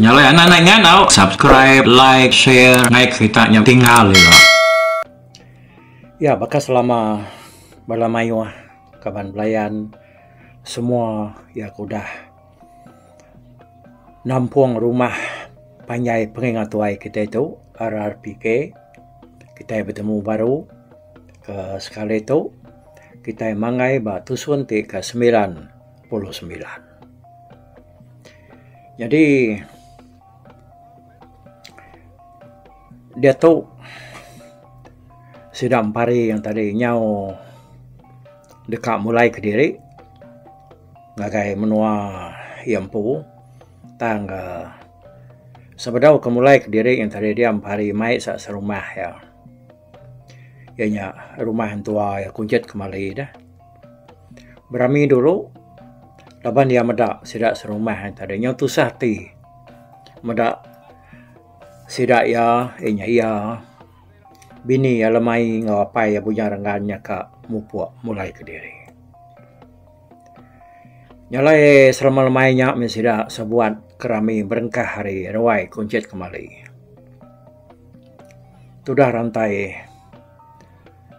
Nyalai anak nai ngandau subscribe like share ngai kerita nya tinggal ira. Ya baka selama bala mayuh kaban belayan semua ya ke udah. nampung rumah panjai pengeringa tuai kitai tu RRPK kitai betemu baru ke sekali tu kitai manggai ba tusun ti ke semilan puluh semilan jadi diatu sida empari yang tadi nyau deka mulai kediri. ngagai menua iya empu tang ka sebedau ke mulai kediri ngin tadi diam pari mai sa serumah iya. Iya nya rumah entua iya kujit kemali deh. Berami dulu laban iya meda sida serumah ain tadi nyau tusah ati meda sida iya iya nya iya bini iya lemai enggau apai iya Bujang Renggan nya ka mupok mulai kediri. Nya alai selama lemai nya meh sida sebuat ke rami berengkah ari ruai Kunchit kemali. Tudah rantai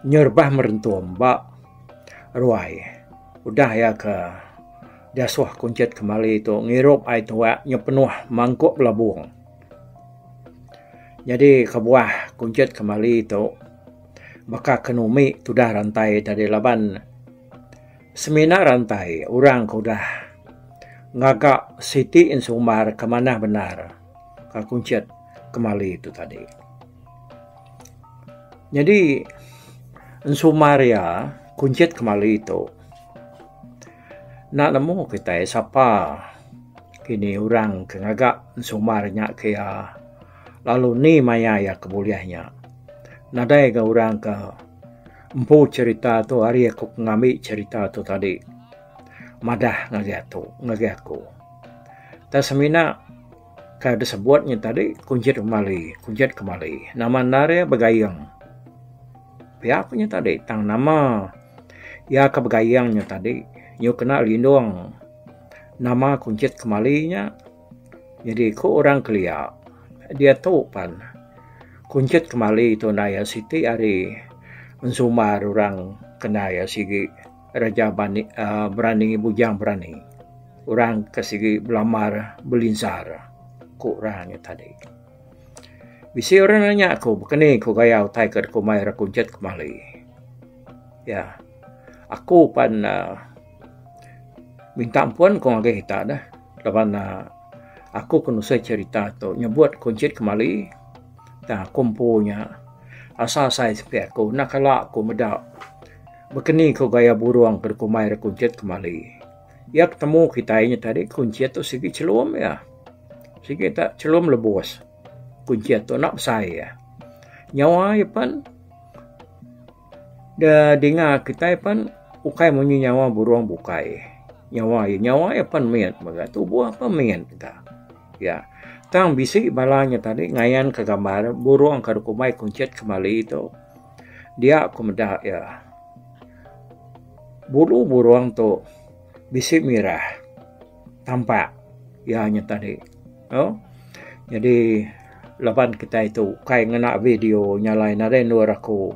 nyerebah merentum ba ruai udah iya ke diasuh Kunchit kemali tu ngirup ai tuwa nyepenuh mangkuk belabong. Nyadi kebuah Kunchit kemali tu baka ke numi tudah rantai tadi laban Semina rantai orang ke udah ngaga siti ensumbar ke manah bendar ka kunchit kemali tu tadi. Nyadi ensumbar iya kunchit kemali tu enda nemu kitai sapa kini orang ke ngaga ensumbar nya ke iya lalu ni maya iya ke bulih nya nadai ga orang ke Empu cerita tu hari aku ke ngambi cerita tu tadi madah ngagai aku ngagai aku tang semina ka disebut nya tadi kunjit kemali kunjit kemali nama enda re begaing pia ku nya tadi tang nama iya ke begaing nya tadi iyu kena lindung nama kunjit kemali nya. Nyadi ku orang kelia, diatu pan kunchit kemali tu enda iya siti ari ensumar orang kena iya sigi reja bani uhh berani bujang berani. Orang ke sigi belamar belinsar ku orang nya tadi. Bisi orang nanya aku baka ni ku gaya utai ku deka mai ra kunchit kemali. Iya, aku pan uhh minta ampun ku ngagai ita neh. Laban aku ke nusai cerita tu nyebut kunchit kemali tang aku empu nya asa asai sepi aku enda kala aku meda bekeni ku gaya burung ke dikumbai ira kunchit kemali. Iya ke temu kitai nya tadi kunchit tu sigi chelum iya. Sigi ta chelum lebus kunchit tu enda besai iya. Nyawa iya pen. Da dinga kitai pan ukai munyi nyawa burung bukai. Nyawa iya nyawa iya pan mit mega tubuh pun mit mega. Ya tang bisi bala nya tadi ngayan ka gambar burung ka dog kumbai kunchit ka bali tu dia ku meda iya bulu burung tu bisi mirah. tampak iya nya tadi tu jadi laban kitai tu kai ngena video nya alai nadai endur aku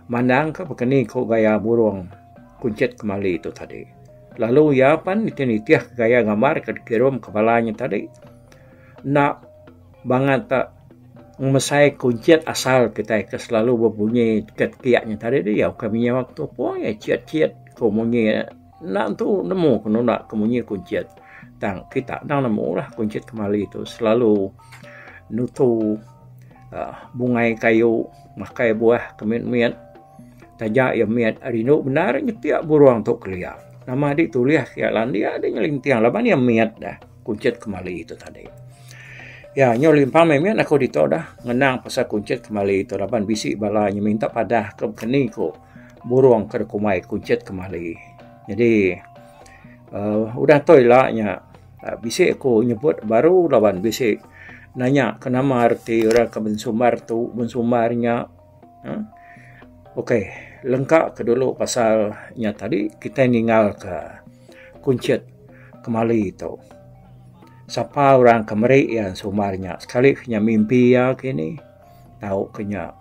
mandang ka pah keni ku gaya burung kunchit kemali tu tadi lalu iya pan nitih nitih gaya gambar ke dikirum ka bala nya tadi enda bangat ka ngemesai kunchit asal kitai ke selalu bebunyi ka kiak nya tadi iya ukai menyau ke tupu iya chit chit ku munyi. Enda entu nemu ke nunda ke munyi kuncit tang kita endang nemu lah kuncit kemali tu selalu nutu aaa bungai kayu makai buah ke mit mit taja iya mit rindu bendar nyepi burung tu kelia nama adi tulis ke iya landik adi nyelinting laban iya mit dah kuncit kemali tu tadi. Iya nyu limpang mih mit aku ditu dah ngenang pasal kuncit kemali tu laban bisi bala nyeminta padah ke keni ku burung ke deka umai kunchit kemali. Nyadi aaa udah toi ila nya bisi ku nyebut baru laban bisi nanya ke nama reti orang ke bensumbar tu bensumbar nya uhh okay lengka ke dulu pasal nya tadi kitai ningal ka kunchit kemali tu sapa orang ke meri iya sumbar nya sekali ke inya mimpi iya kini. tau ke nya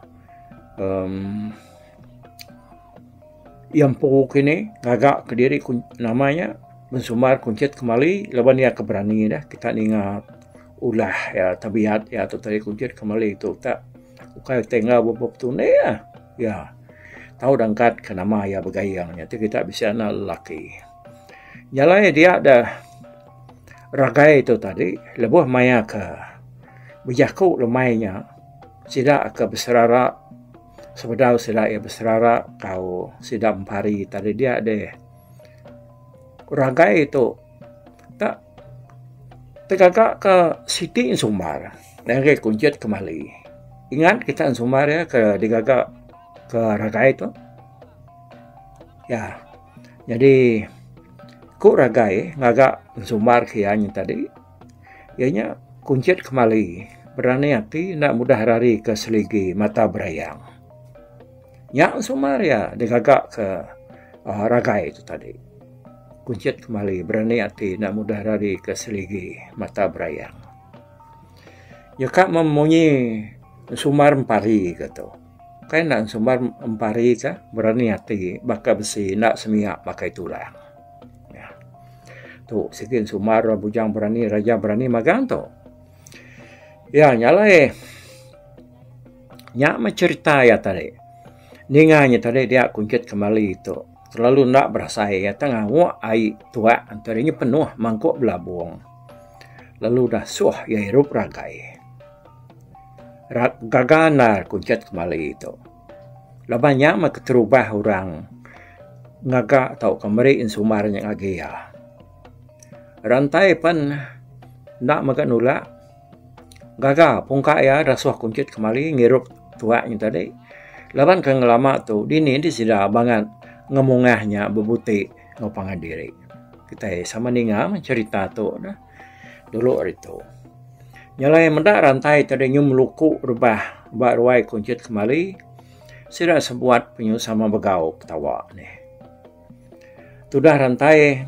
um iya empu kini ngaga kediri nama iya bensumbar kuncit kemali laban iya ke berani dah kita ninga ulah iya tabiat iya tu tadi kuncit kemali tu tak ukai tai enggau bubuh petunik iya. Iya tau dah angkat ke nama iya begayeng nya ti kita bisi anak lelaki. Nya alai dia dah ragai tu tadi lebuh maya ke bejaku lemai nya sida ke beserara sebedau sida ke beserara tau sida mempari tadi dia deh ragai tu ka tegaga ke siti sumbar ngagai kujit kemali ingat kita sumbar ke digaga ke ragai tu ya. Nyadi ku ragai ngaga sumbar ke iya nya tadi iya nya kunchit kemali berani ati enda mudah rari ke seligi mata berayang. Nya sumbar iya digaga ke uhh ragai tu tadi. Kunchit kemali berani ati enda mudah rari ke seligi mata berayang. Nyeka meh munyi sumbar empari ke tu. Kai endang sumbar empari ka berani ati baka besi enda semiak baka tulang. Tu sigi sumbar bujang berani raja berani magang tu. Ya nya alai nya meh cherita iya tadi. Ninga inya tadi dia kunchit kemali tu terlalu enda berasai iya tang ngawak ai tuak enti inya penuh mangkuk belabong lalu dah suh iya irup ragai. Rak gaga endar ku ncet kemali tu. Laban nya meh keterubah orang ngaga tauka meri sumbar nya ngagai iya. Rak entai pen enda mega nulak gaga pun ka iya resoh ku ncet kemali ngirup tuak nya tadi. Laban ke ngelama tu dini di sida bangat ngemungah nya bebuti enggau pangan diri. Kitai sama ninga meh cherita tu neh. dulu hari tu. Nyelai meda rantai ti deh nyum luku rebah ba ruai kunchit kemali sida sebuat penyu sama begau ketawa nih. Tudah rantai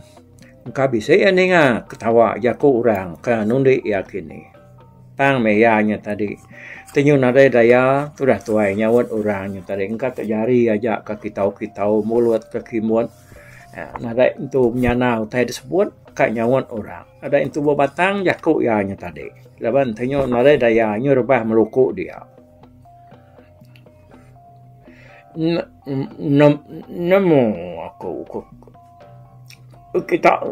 engka bisi iya ninga ketawa jaku orang ke nundi iya kini. Tang meh iya nya tadi tenyu nadai daya tudah tuai nyaut orang nya tadi engka tu jari aja ke kitau-kitau mulut ke kimut. Nadai intu menyana utai da sebut ka nyaut orang. Nadai intu ba batang jaku iya nya tadi. Laban ti nyu nadai daya nyu rebah meluku dia. Nemu aku ku kita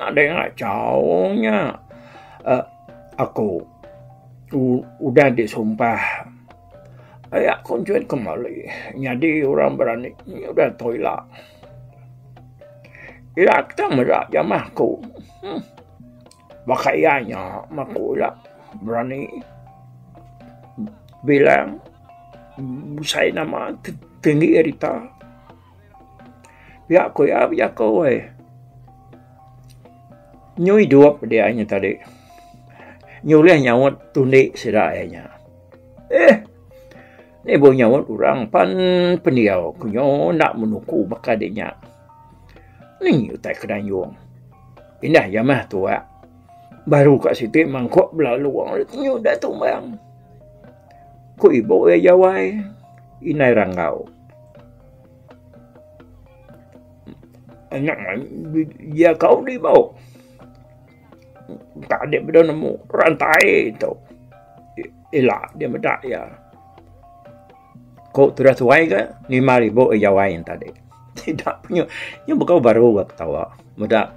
nadai ngachau nya aku udah disumpah. Aya konsen kemali nyadi orang berani nyudah tou ila. Ila kita meda jamah aku. Huh. Baka iya nya meh aku ila berani bilang besai nama tinggi ari ita. Pia ku iya bejaku ai. Nyu idup dia nya tadi. Nyulih nyaut tundi sida iya nya. Eh. Ibuh nyaut orang pan pendiau ke nyo enda menuku baka de nya. Nenggi utai ke dayung. Indah iya mah tuak. Baru ka siti mangkok belalu wang le tenyu enda tumbang. Ku ibuh iya jawai indai ranggau. Anak mayuh iya kau di bau. Tang dia meda nemu rantai tu. Ila dia meda ya. Ko tudah tuai ke 5000 jawai yang tadi. Tidak punya. Yang bukan baru ke ketawa. Meda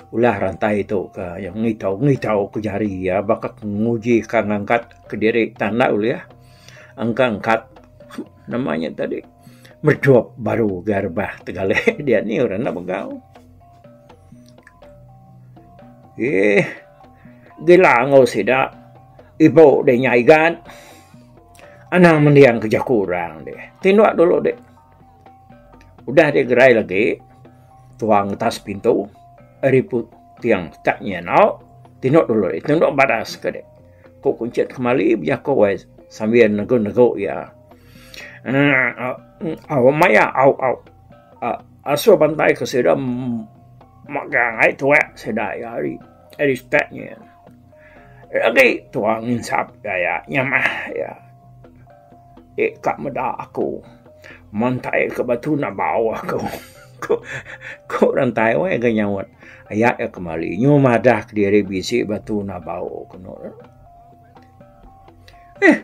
ulah rantai tu ke yang ngitau ngitau ke jari ya baka nguji ke ngangkat ke diri tanda ulih ya. Angka angkat namanya tadi. Merdup baru ke rebah tegalai dia ni orang enda megau. Eeh gila enggau sida ibu deh nya igat anang mending ke jaku orang deh tindok dulu deh udah deh gerai lagi tuang ngetas pintu ari puting ka nya eno tindok dulu deh tindok badas ke deh ku kunchit kemali bejaku ai sambil negu negu iya aaa au maya au au. Uh, asuh bantai ke sida megang ai tuak sida ya hari. Hari stat ni. Lagi tuak nginsap gaya nyamah ya. Eh, kak meda aku. Mantai ke batu na bau aku. Ku, ku rantai wai ke nyaut. Ayat ya kemali. Nyu madah ke diri bisi batu na bau. Kenu. Eh,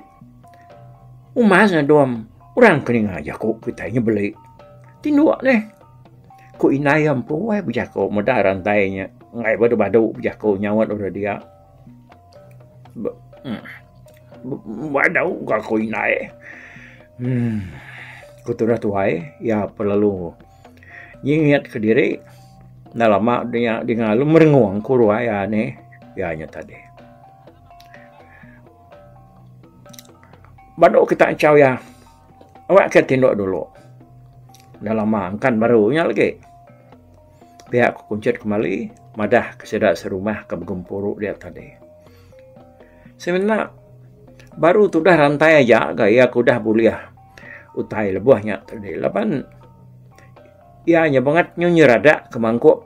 umas ngadom orang keninga jaku kitai nya beli. Tinduk neh. Ku indai empu ai bejaku meda rantai nya enggai badu-badu bejaku nyaut bala dia. Badu ka ku indai. Ku tudah tuai iya pelalu. Iya ngiat ke diri, enda lama nya dinga lu merengung ku ruai iya nih iya nya tadi. Ba ndo kita enchau iya, awak ke ti ndo dulu. Enda lama engkan baru nya lagi. Pia ku kunchit kemali madah ke sida serumah ke begempuru dia tadi. Semina baru tudah rantai aja ga iya ke udah bulih. utai lebuh nya tu dih laban iya nya bangat nyu nyerada ke mangkuk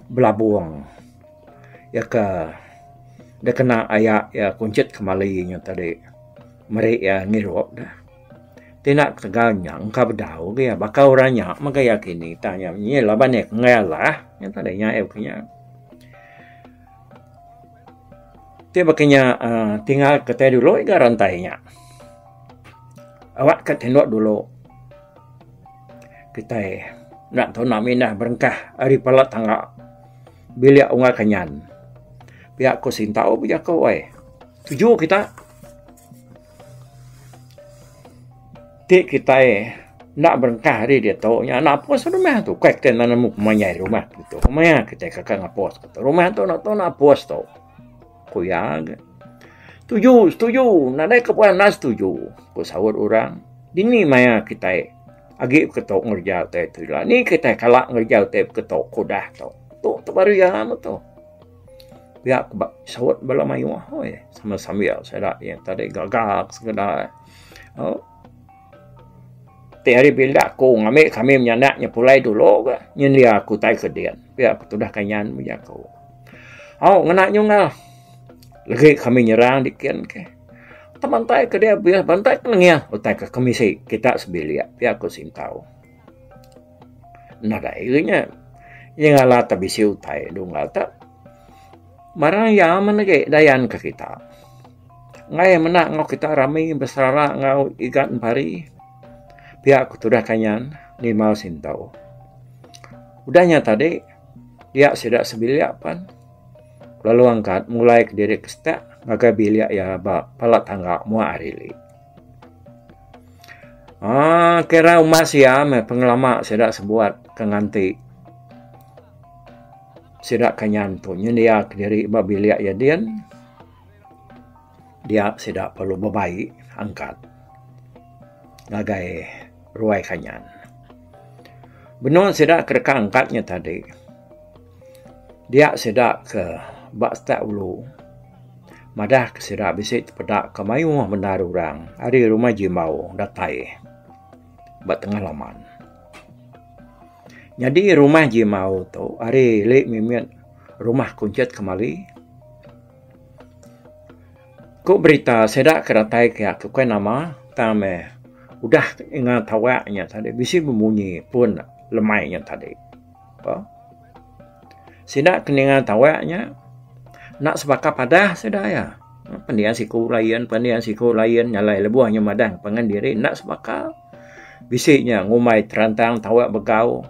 belabung iya ke da kena aya iya kunchit kemali nyu tu dih meri iya ngirup da ti enda ketegal nya engka bedau ga iya baka orang nya mega iya kini tang iya laban iya ke ngalah nya tu dih nya iya ke nya. Ti baka inya aaa tinggal ka tai dulu iga rantai inya. Awak ka tindu dulu. Kitai enda tuna minah berengkah ari pala tangga bilik unggal kenyan. Pia ku sindau bejaku ai. Tuju kita. Ti kitai enda berengkah ari diatu nya napus rumah tu kai kitai enda nemu pemain rumah tu ditu. Pemain kitai kaka napus tu. Rumah tu enda tau napus tu. Ku iya ke. Setuju, setuju. Nadai ke puan enda setuju. Ku saut orang. Dini maya kitai agi ke tu ngereja utai tu ila. Ni kitai kala ngereja utai ke tu ke udah tu. Tu tu baru iya amat tu. Pia ke ba saut bala mayuh ahoi sambil sambil sida iya tadi gagak sekeda oh ti hari bila aku ngambi kami menyanda nya pulai dulu ga nyendia aku tai ke din pia ke tudah ke nyan mung jaku au ngena nyungga legi kami nyerang di kin ke teman tai ke dia bantai ke lengih utai ke kemisi kita sebilik pia ku singkau Nadai ga nya. Iya ngala tak bisi utai dulu ngala tak. Barang iya man agi dayan ke kita. Ngai iya menda enggau kita rami beserara enggau igat pari. Pia ku tudah kanyan Limau Sintau. Udah nya tadi iya sida sebilik pan lalu angkat mulai diri ke sida ngagai bilik iya ba pala tangga muak hari. Ah, kira uma sia meh pengelama sida sebuat ke nganti sida ke nyanto nyendia diri ba bilik iya din dia sida perlu bebaik angkat ngagai ruai kanyan. Benung sida ke deka angkat nya tadi. Dia sida ke ba Setak Ulu madah ke sida bisi tepeda ke mayuh bendar orang ari rumah Jimbau datai ba tengah laman. Nyadi rumah Jimbau tu ari ili mimit rumah kunchit kemali. Ku berita sida ke datai kiya ke ukai nama tang meh udah ingat tawa nya tadi bisi bemunyi pun lemai nya tadi. Apo? Sida ke ninga tawak nya enda sebaka padah sida iya. Pendian siku lain, pendian siku lain nyalai lebuh inya madah pangan diri enda sebaka. Bisi nya ngumbai terantang tawak begau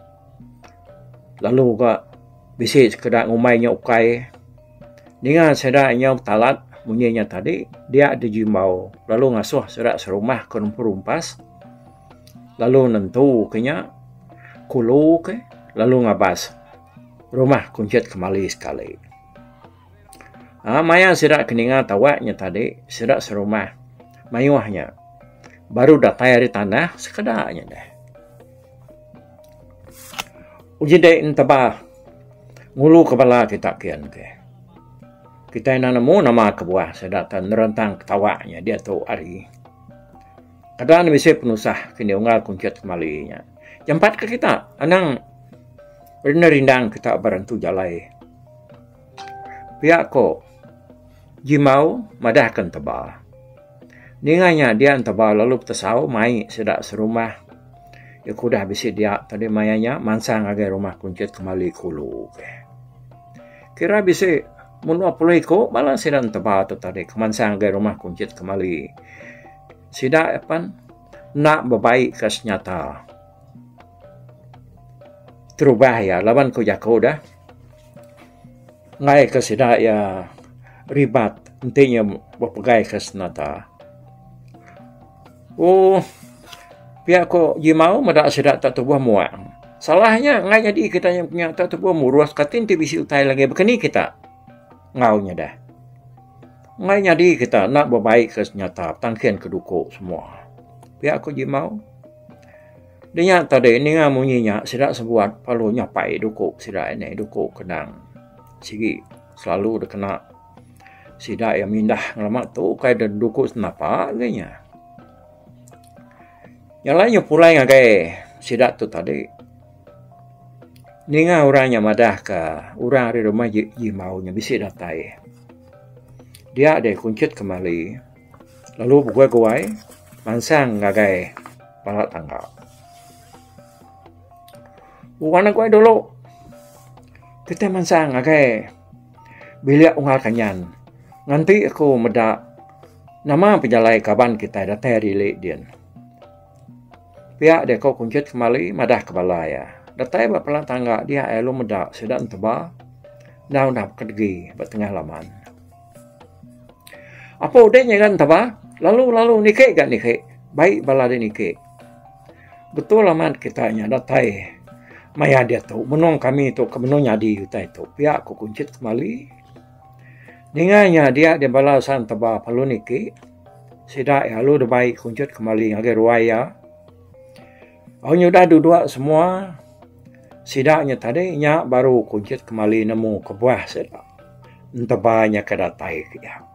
lalu uga bisi sekeda ngumbai nya ukai. Ninga sida inya betalat munyi nya tadi dia dijimbau lalu ngasuh sida serumah ke nempuru empas. lalu nentu ke nya kulu ke lalu ngabas rumah kunchit kemali sekali aaa maya sida ke ninga tawa nya tadi sida serumah mayuh nya baru datai ari tanah sekeda nya deh uji deh entebah ngulu ke bala kita kian ke kita enda nemu nama kebuah sida ke nerentang ketawa nya diatu ari. Kedan bisi penusah ke enda unggal kunchit kemali nya. Jampat ke kita anang renda rindang kita ba rentu jalai. Pia ko Jimau madah ke Enteba. Ninga nya dia Enteba lalu betesau mai sida serumah. Iya ke udah bisi dia tadi maya nya mansang ngagai rumah kunchit kemali ke ulu. Kira bisi mun dua puluh iko bala sida Enteba tu tadi ke mansang ngagai rumah kunchit kemali. Sida apan enda bebaikka senyata. Terubah iya laban ku jaku deh. Enggai ke sida iya ribat enti iya bepegaika senata. Ohh pia ku Jimau meda sida tak tubuh muak. Salah nya enggai nyadi kita nya tak tubuh murus kati enti bisi utai lagi. Baka ni kita. Enggau nyadah. Enggai nyadi kita enda bebaikka senyata petang kin ke duku semua. Pia ku Jimau. Dinya tadi ninga munyi nya sida sebuat lalu nyapai duku sida ini duku kendang sigi selalu dikena sida iya mindah ngelama tu ukai da duku senapa agei nya. Nya alai nyepulai ngagai sida tu tadi. Ninga orang nya madah ka orang ari rumah ji ji mau nya bisi datai. Dia deh kunchit kemali lalu begoi goi mansang ngagai bala tangga. Wang ne goi dulu kitai mansang ngagai bilik unggal kanyan nganti aku meda nama pejalai kaban kitai datai ari ili din. Pia dia ko kunchit kembali madah ke bala iya. Datai ba palan tangga dia iya lalu meda sida neteba enda udah baka degi ba tengah laman. Apo udah nyigan neteba lalu lalu niki ga niki bai bala dia niki. Betul amat kita nya datai maya diatu menung kami tu ke menung nyadi utai tu pia ko kunchit kembali. Ninga nya dia deh bala sang teba palu niki sida iya lalu deh bai kunchut kemali ngagai ruai iya. Au nyudah dudua semua sida nya tadi nya baru kunchut kemali nemu kebuah sida enteba nya ke datai ke iya.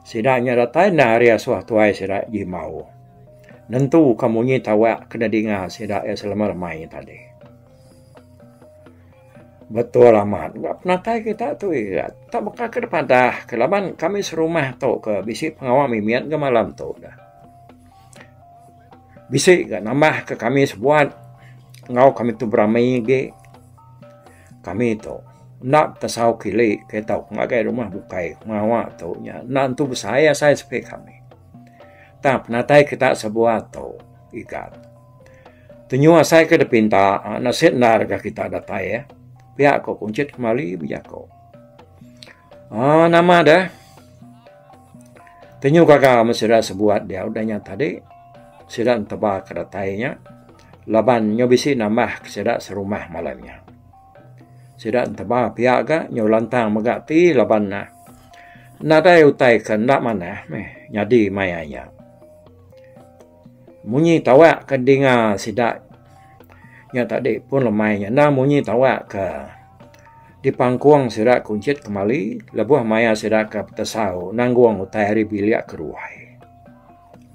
Sida nya datai enda ari asuh tuai sida jimau nentu ka munyi tawa ke nadinga sida iya selama lamai nya tadi. Betul amat enda penatai kita tu iya tak baka ke dipadah ke laban kami serumah tu ke bisi pengawa mimit ga malam tu dah. Bisi ga nambah ke kami sebuat enggau kami tu berami agi kami tu enda tesau kili kayuh tu ngagai rumah bukai pengawa tu nya enda tentu besai asai sepi kami. Tang penatai kita sebuat tu. Ikat. Tenyu asai ke dipinta enda sik endar ga kita datai eh. Pia ko Kunchit kemali bejako. Aaa nama deh. Tenyu gaga me sida sebuat dia udah nya tadi. Sida enteba ke datai nya laban nyu bisi nambah ke sida serumah malam nya. Sida enteba pia ga nyu lantang mega ti laban nadai utai ke enda manah meh nyadi maya nya. Munyi tawak ke dinga sida nya tadi pun lemai nya enda munyi tawak ke dipangkung sida kunchit kemali lebuh maya sida ke betesau nanggung utai ari bilik ke ruai.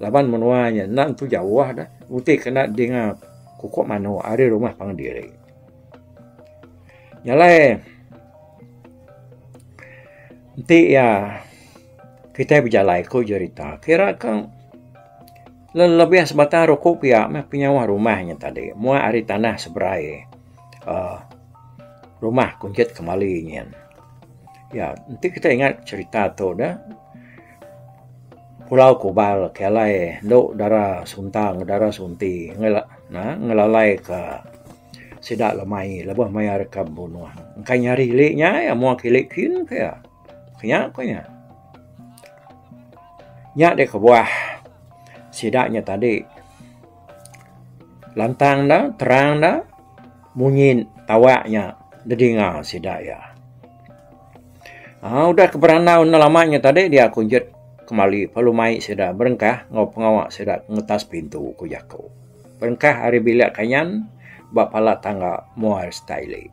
Laban menua nya enda tentu jauh dah pun ti kena dinga kukup manuk ari rumah pangan diri. Nya alai enti iya Kitai bejalai ku jerita kira ke lelebih sebatang ruku pia meh penyauh rumah nya tadi muak ari tanah seberai um rumah kunchit kemali nyin. Ya enti kitai ingat cherita tu dah pulau kubal ke alai endo dara sunta enggau dara sunti ngelalai ke sida lemai lebuh mayar ka bunuh. Engkai nyari ili nya muak ili kin pia. Nya ku nya. Nya deh kebuah sida nya tadi. Lantang da, terang da munyi tawa nya didinga sida iya. Udah ke berandau enda lama nya tadi dia kunjut kemali lalu mai sida berengkah enggau pengawa sida ngetas pintu ku jaku. Berengkah ari bilik kayan ba pala tangga Moir Stylick.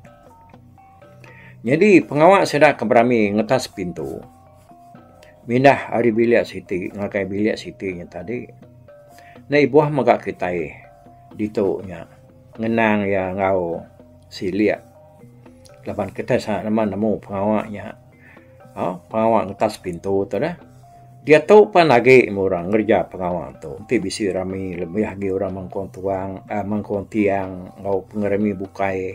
Nyadi pengawa sida ke berami ngetas pintu mindah ari bilik siti ngagai bilik siti nya tadi enda ibuh mega kitai ditu nya ngenang iya enggau silik laban kitai saja nemu nemu pengawa nya aaa pengawa ngetas pintu tu deh. Diatu pan agi meh orang ngereja pengawa tu enti bisi rami lebih agi orang mengkong tuang mengkong tiang enggau pengerami bukai.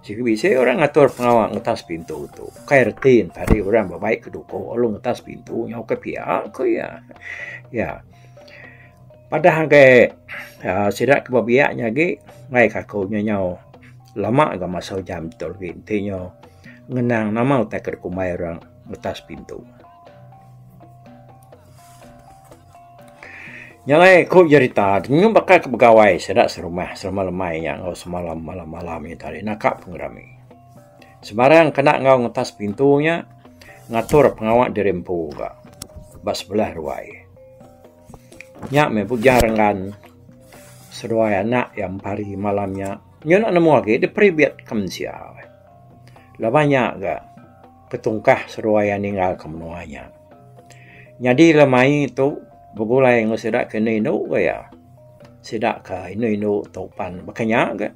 Sigi bisi orang ngatur pengawa ngutas pintu tu. Ukai reti ne tadi orang bebai ke duko lalu ngutas pintu nyau ke pia ku iya. Iya. Padah anggai aaa sida ke ba biak nya agi mai ka aku nya nyau lama ga masa ujan tu agi enti nyo ngenang nama utai ke dikumbai orang ngutas pintu. Nya alai aku jerita dulu baka ku begawai sida serumah serumah lemai nya enggau semalam malam malam nya tadi naka pengerami. Sembarang kena enggau ngetas pintu nya ngatur pengawa diri empu ka ba sebelah ruai. Nya meh ujar enggan seduai anak iya mempari malam nya. Nya enda nemu agi diperi biet ka mensia. Laban nya ga. Petungkah seruai iya ninggalka menua nya. Nyadi lemai tu begulai enggau sida ke indu indu ga iya. Sida ke indu indu tu pan baka nya ga.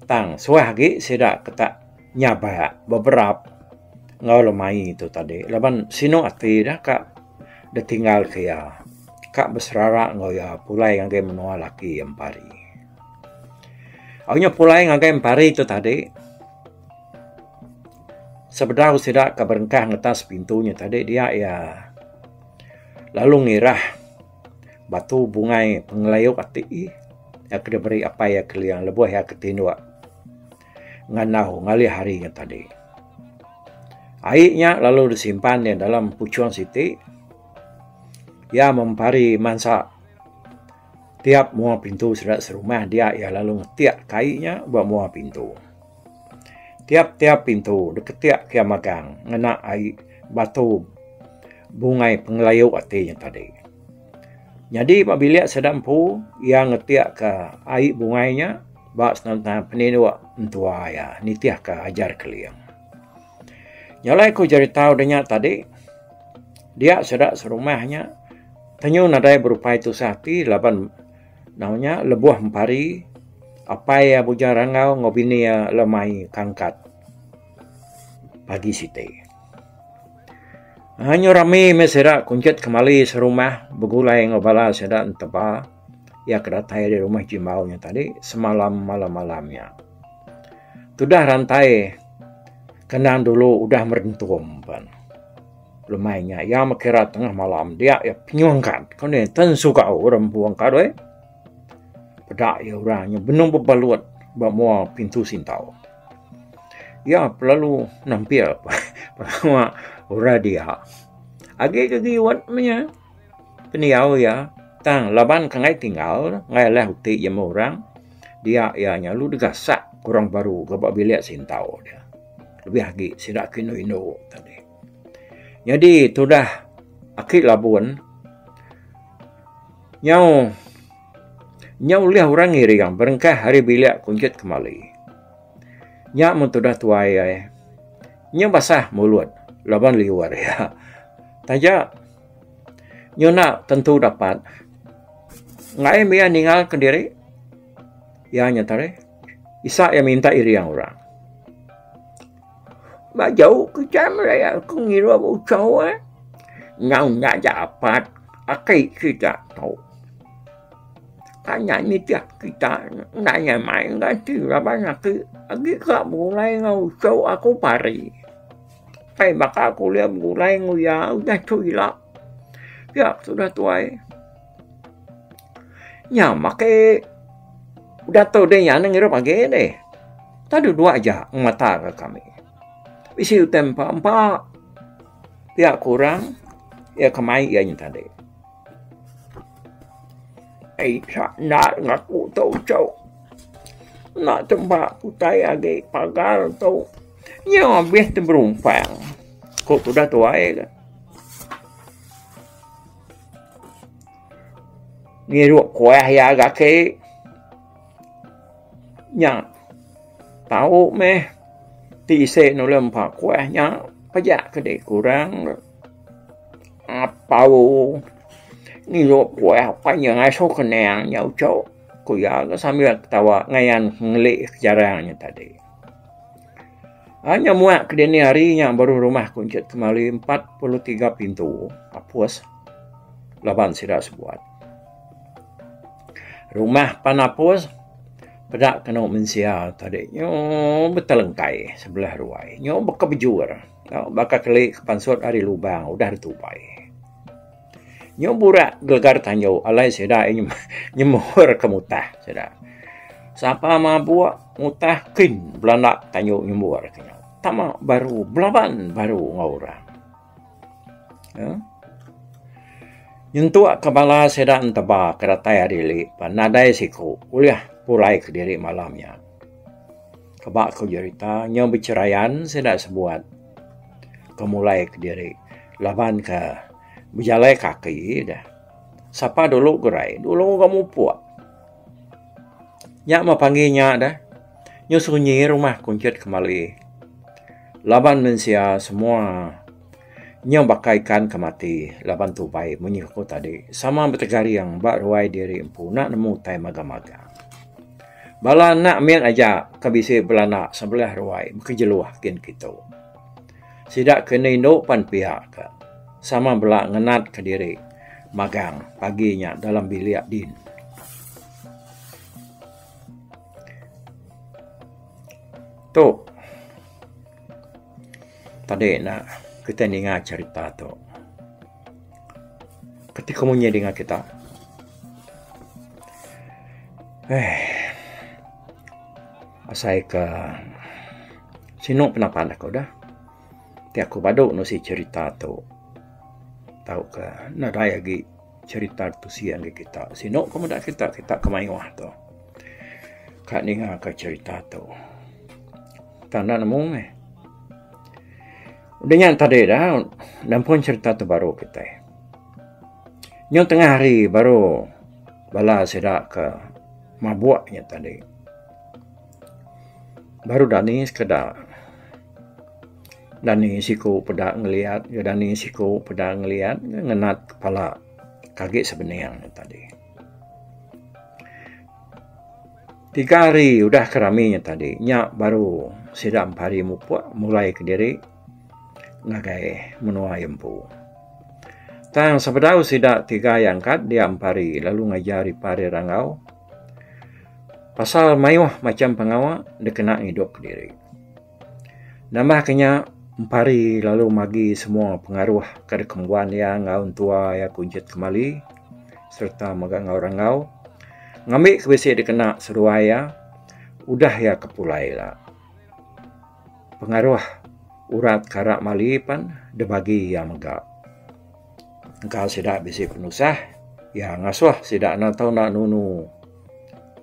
Tang suah agi sida ke tak nyabak beberap enggau lemai tu tadi laban sinu ati ida ka ditinggalka iya ka beserara enggau iya pulai ngagai menua laki iya Empu Hari. Au nya pulai ngagai Empu Hari tu tadi. Sebedau sida ke berengkah ngetas pintu nya tadi dia iya lalu ngirah batu bungai pengelayuk ati iya ke diberi apai iya Keling lebuh iya ke tinduk ngandau ngalih hari nya tadi. Ai nya lalu disimpan iya dalam puchung siti iya mempari mansa tiap mua pintu sida serumah dia iya lalu ngetikka ai nya ba mua pintu. Tiap-tiap pintu diketik kiya magang ngena ai batu bungai pengelayuk ati nya tadi. Nyadi ba bilik sida empu iya ngetikka ai bungai nya ba senaman peninduk mentua iya nitihka ajar Keling. Nyelai ku jerita udah nya tadi dia sida serumah nya tenyun nadai berupai tusah ati laban Nau nya lebuh empari, apai iya Bujang Rangau enggau bini iya le mai kangkat pagi siti. Anyu rami meh sida kunchit kemali serumah begulai enggau bala sida enteba iya ke datai ari rumah Jimbau nya tadi semalam malam-malam nya. Tudah rantai kendang dulu udah merentum pan. Lemai nya iya mekira tengah malam dia iya penyuh engkan. Kau ni ten suka orang empu engka doi. Peda iya orang nya benung bebalut ba mua pintu sintau. Iya pelalu nampil pengawa orang dia. Agi ke giwet menya pendiau iya tang laban ke enggai tinggal enggai leh uti jemah orang dia iya nya lalu digasak ke orang baru ke ba bilik sintau dia. Lebih agi sida ke indu-indu tadi. Nyadi tudah aki labun nyau nyau ulih orang ngiring berengkah ari bilik kunjut kemali. Nya mun tudah tuai ai nyau basah mulut laban liur iya. Taja nyuna tentu dapat ngai mih iya ninga ke diri iya nya tadi isa iya minta iring orang. Ba jauh kitai meraya ke ngira ba uchau e. Nyau nya aja apat aki sida tau. Kai nya nitih kita enda nyai mai enggau ati laban aki agi ka begulai enggau uchau aku pari. Kai baka aku ulih begulai enggau iya udah tu ila. Pia sudah tuai. Nya makai udah tu deh iya neh ngirup age deh. Tang deh dua ja ngemata ke kami. Bisi utai empa empa pia ke orang iya ke mai iya nyen tadi. Ai cha enda ngen aku tu chok. Enda tu ba utai age pagar tu. Nya abih tu berumpang. Ku tudah tuai. Ngirup kuah iya ga agi nya tau meh tisi nulung empa kuah nya pejak kidi kurang apau ngirup kuah pan iya ngasu keninga nya uchu ku iya sambil ketawa ngayan ngeli sejarah nya tadi. Ai nya muak ke dini hari nya baru rumah aku enti kemali empat puluh tiga pintu apus laban sida sebuat. Rumah pan apus peda kenu mensia tadi nyoo betelengkai sebelah ruai nyoo baka bejur baka keli ke pansut ari lubang udah ditupai. Nyu burak gegar tanju alai sida nyemur ke mutah sida. Sapa mabuk mutah kin belanda tanju nyemur ke nya. Tama baru belaban baru enggau orang. Uhh. Nyentuk ke bala sida enteba ke datai ari li pan nadai siku ulih pulai kediri malam nya. Keba ku jerita nya becherayan sida sebuat. ke mulai ke diri laban ke bejalai kaki deh sapa dulu gerai dulu ga mupok nya mah pagi nya deh nya sunyi rumah kunchit kemali laban mensia semua nya baka ikan ke mati laban tubai mung nya ku tadi sama betegaring ba ruai diri empu enda nemu utai magang magang. Bala anak mih aja ke bisi belana sebelah ruai bekejeluh kin kitu. Sida ke enda indu pan pia ke sama bela ngenatka diri magang pagi nya dalam bilik din. Tu tadi ne kitai ninga cherita tu. Keti kamu nya dinga kita. Eh. Asai ke sinu penapan aku dah. Ti aku badu nusi cerita tu. Tau ke nadai agi cerita tusi ngagai kita. Sinu ke meda kita, kita ke mayuh tu. Ka ninga ka cerita tu. Tang enda nemu meh. Udah nya tadi dah nampun cerita tu baru kitai. Nyau tengah hari baru bala sida ke mabuk nya tadi. Baru dani sekeda dani siku peda ngeliat ke dani siku peda ngeliat ngenat kepala kagi sebening nya tadi. Tiga hari udah ke rami nya tadi nya baru sida empari mupuk mulai kediri ngagai menua iya empu. Tang sebedau sida tiga iya angkat dia empari lalu ngajar ipar iya rangau pasal mayuh macham pengawa dikena ngidup kediri. Nambah ke nya, empari lalu magi semua pengaruh ke deka ngembuan iya enggau entua iya kunchit kemali sereta mega enggau rangau ngambi ke bisi dikena seduai iya udah iya ke pulai ila. Pengaruh urat ke rak mali pen deh bagi iya mega. Engka sida bisi penusah, iya ngasuh sida enda tau enda nunu.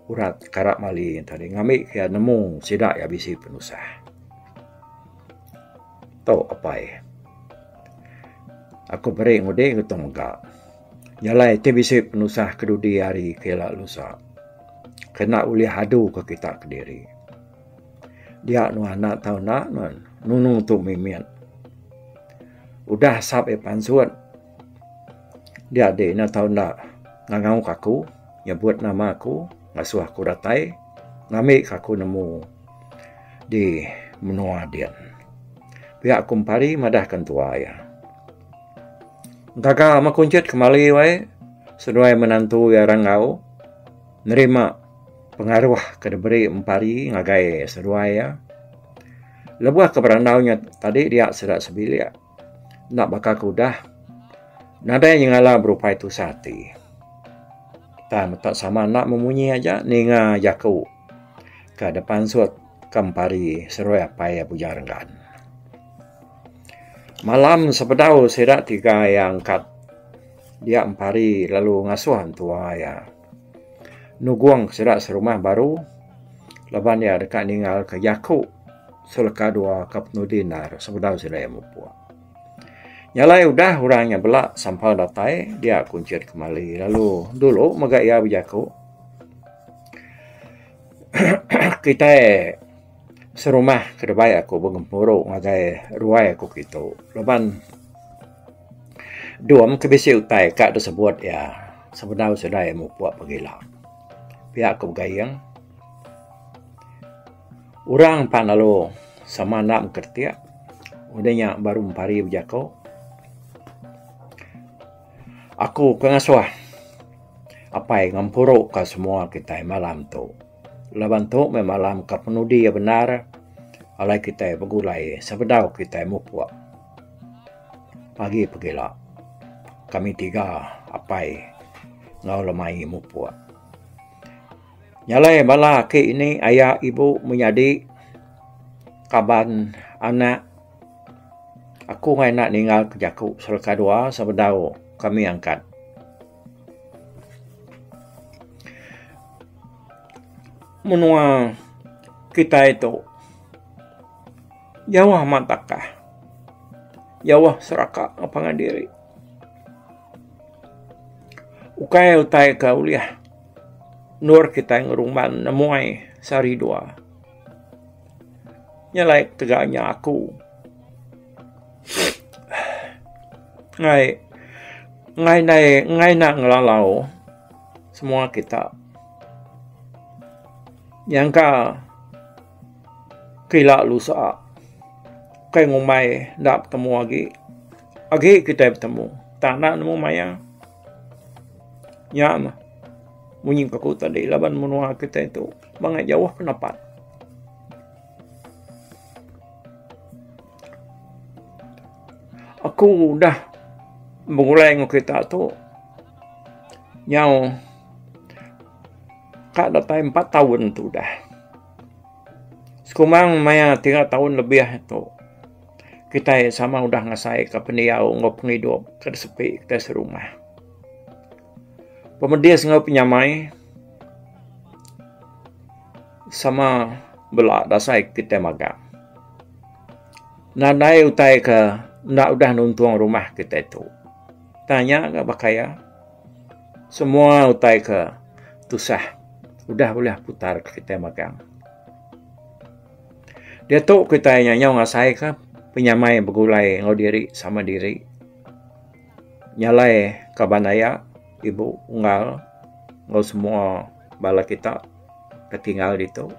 Urat karap mali tadi ngambi ke iya nemu sida iya bisi penusah. Tu apai. Aku meri ngudi ngetu mega. Nyalai ti bisi penusah ke dudi hari ke ila lusa. Kena ulih adu ke kita kediri. Dia nuan enda tau enda nuan nunu tu mimit. Udah asap iya pansut. Dia adi nya tau enda ngangau ka aku nyebut nama aku ngasuh aku datai ngambi ka aku nemu di menua din. Pia aku mepari madah ka entua iya. Gaga meh aku njit kemali wae seduai menantu iya ira enggau nerima pengaruh ke diberi mepari ngagai seduai iya. Lebuh ke berandau nya tadi dia sida sebilik. enda baka ke udah. Nadai nyengala berupai tusah ati. Tang meta sama enda memunyi aja ninga jaku ke dipansut ke empari Serui Apai iya Bujang Renggan. Malam sebedau sida tiga iya angkat dia empari lalu ngasuh entua iya nugong sida serumah baru laban iya deka ningalka jaku. Seleka dua ka penudi endar sebedau sida iya mupuk. Nya alai udah orang nya bela sampa datai dia kunchit kemali lalu dulu mega iya bejaku kitai serumah ke debai aku begempuru ngagai ruai aku ke itu laban dom ke bisi utai ka disebut iya sebedau sida iya mupuk pegila. Pia ku Gaing. Orang empat lalu sama enda mengkretik. Udah nya baru mempari bejaku. Aku ke ngasuh apai ngempuru ka semua kitai malam tu. Laban tu meh malam ka penudi iya bendar alai kitai begulai sebedau kitai mupuk pagi pegila kami tiga apai enggau lemai mupuk. Nyalai bala aki ini aya ibu menyadi kaban anak aku angai enda ningal ke jaku selaka dua sebedau kami angkat. Menua kitai tu jauh amat takah. Jauh seraka enggau pangan diri. Ukai utai ke ulih. Endor kitai ngerumban nemuai sehari dua. Nya alai ketega inya aku. Ngai ngai nai ngai enda ngelalau semua kita nyangka ke ila lusa kai ngumbai enda betemu agi. Agi kitai betemu. Tang enda nemu maya. Nya mah munyi ke aku tadi laban menua kitai tu bangai jauh pendapat. Aku udah begulai ngan kita tu nyau ka datai empat taun tu udah. Sikumang maya tiga taun lebih tu. kitai sama udah ngasaika pendiau enggau pengidup ke disepi kitai serumah. Pemedis enggau penyamai sama bela dasai kitai magang. Nadai utai ke enda udah nuntung rumah kitai tu. Tanya ga baka iya. Semua utai ke tusah udah ulih putar kitai magang. Diatu kitai nyau-nyau ngasaika penyamai begulai enggau diri sama diri nyalaika bandaya ibu unggal enggau semua bala kita ke tinggal ditu.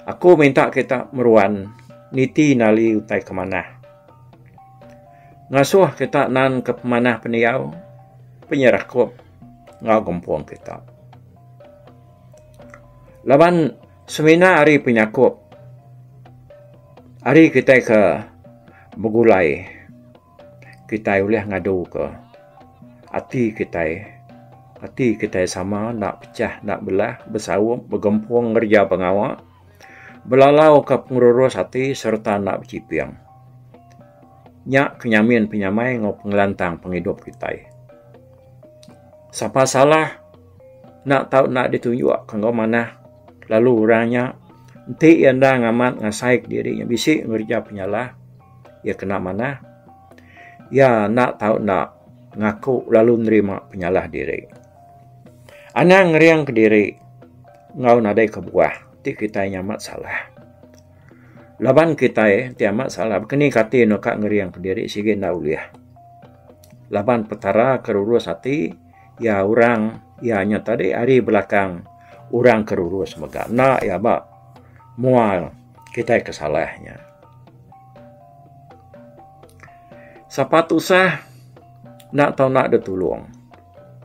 Aku minta kita meruan niti enda ali utai ke manah. Ngasuh kita nan ke pemanah pendiau, penyerakup enggau gempung kita. Laban. Semina ari penyakup ari kitai ke begulai kitai ulih ngaduka ati kitai. Ati kitai sama enda pecah enda belah besaup begempung ngereja pengawa belalauka pengerurus ati sereta enda bechiping. Nya ke nyamin penyamai enggau pengelantang pengidup kitai. Sapa salah. Enda tau enda ditunjuk ke enggau manah lalu orang nya enti iya enda ngamat ngasai ke diri iya bisi ngereja penyalah iya kena manah iya enda tau enda ngaku lalu nerima penyalah diri. Anang ngering ke diri enggau nadai kebuah ti kitai nya amat salah. Laban kitai ti amat salah baka ni kati enda ka ngering ke diri sigi enda ulih laban Petara ke lurus ati. iya orang iya nya tadi ari belakang orang ke lurus mega enda iya ba mua kitai ke salah nya. Sapa tusah enda tau enda deh tulong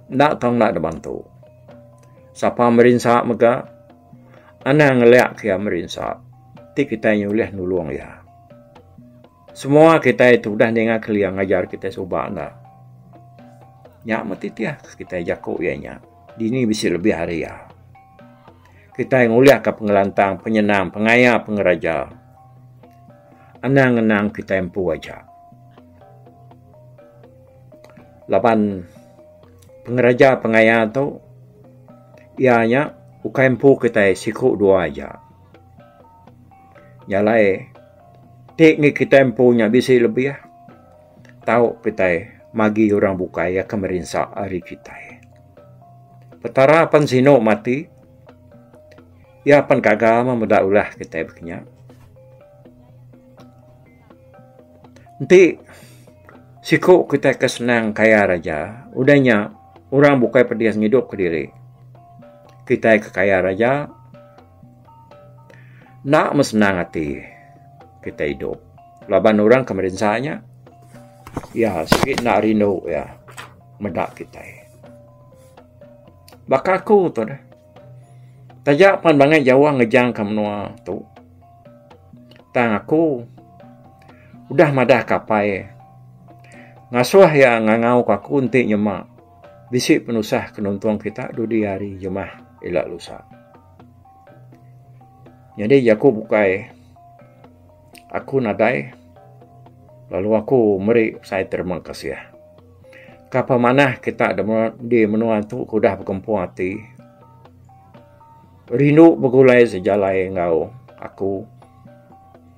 enda tau enda deh bantu sapa merinsa mega anang ngelak ke iya merinsa ti kitai ulih nulong iya. Semua kitai tu udah ninga kelia ngajar kitai suba enda. Nya meh titih ke kitai jaku iya nya. Dini bisi lebih ari iya. Kitai ngulihka pengelantang, penyenang, pengaya, pengeraja. Anang ngenang kitai empu aja. Laban pengeraja pengaya tu iya nya ukai empu kitai siku dua aja. Nya alai ti ngi kitai empu nya bisi lebih tau kitai magi orang bukai akan merinsa ari kitai. Petara pen sinu mati iya pen gaga meh meda ulah kitai baka nya. Enti siku kitai ke senang kaya raja udah nya orang bukai pedis ngidup ke diri kitai ke kaya raja. Enda meh senang ati kitai idup laban orang ke merinsa nya iya sigi enda rindu iya meda kitai. Baka aku tu deh taja pan bangai jauh ngejangka menua tu tang aku udah madah kapai ngasuh iya ngangau aku enti nyema. Bisi penusah ke nuntung kita dudi hari jemah ila lusa. Nyadi jaku bukai aku nadai lalu aku meri sai terima kasih. Ka pemanah kita di menua tu ke udah bekempung ati rindu begulai sejalai enggau aku.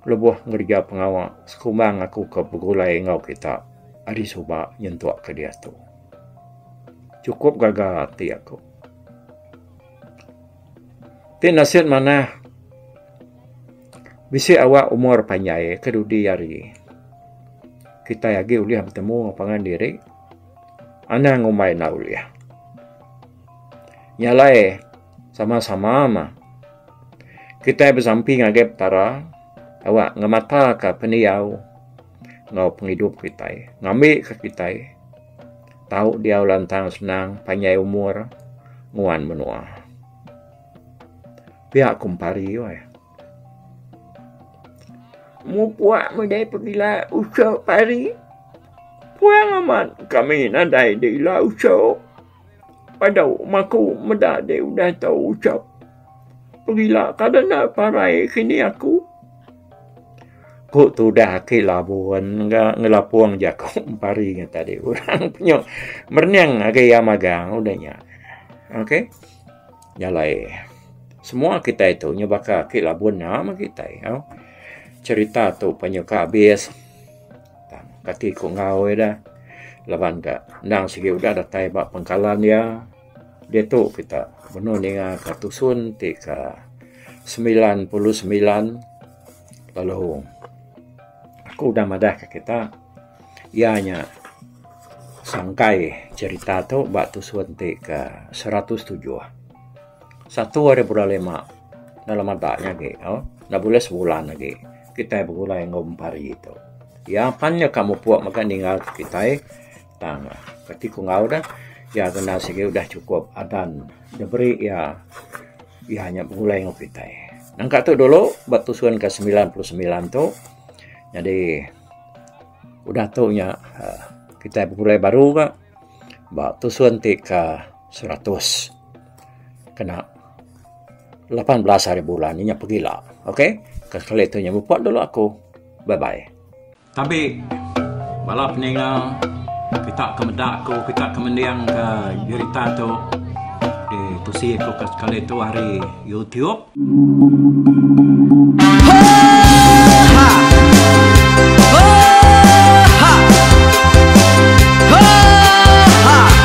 Kelebuh ngereja pengawa, sekumbang aku ke begulai enggau kita ari suba nyentuk ke diatu. Chukup gaga ati aku. Ti nasit manah, bisi awak umur panjai ke dudi ari kitai agi ulih betemu pangan diri, anang ngumbai enda ulih. Nya alai. Sama-sama mah, kitai besampi ngagai Petara awak ngemataka pendiau enggau pengidup kitai, ngambika kitai tau diau lantang senang, panjai umur, nguan menua. Pia ku Empari weh. Mupuk meda pegila usup ari puang amat kami nadai ila usup. Padu meh aku meda dek udah tau ucap pegila kada enda parai kini aku. Ku tudah ake labun ga ngelapong jaku pari ngan tadi orang penyu merening agi iya magang udah nya ok jalai semua kitai tu nyau baka ake labun nya meh kitai au cerita tu pa nyau ka abis. Kati ku enggau ida laban ka endang sigi udah datai ba pengkalan iya diatu kita benung ninga ka tusun ti ka semilan puluh semilan lalu aku udah madah ka kita iya nya sangkai cerita tu ba tusun ti ka seratus tujuh. Satu ari bala lima enda lama da nya agi enda buleh sebulan agi. Kitai begulai enggau empari tu. Iya apan nya ka mupuk mega ninggal ke kitai tang kati ku enggau deh iya kena sigi udah chukup adan diberi iya iya nya begulai enggau kitai. Nangka tu dulu ba tusun ke semilan puluh semilan tu nyadi udah tu nya aaa kitai begulai baru ga ba tusun ti ke seratus kena lapan belas hari bulan inya pegila okey ke sekali tu inya mupok dulu aku bye bye tabi bala peninga kita ke meda ku kita ke mending ke berita tu di tusi ku ke sekali tu ari youtube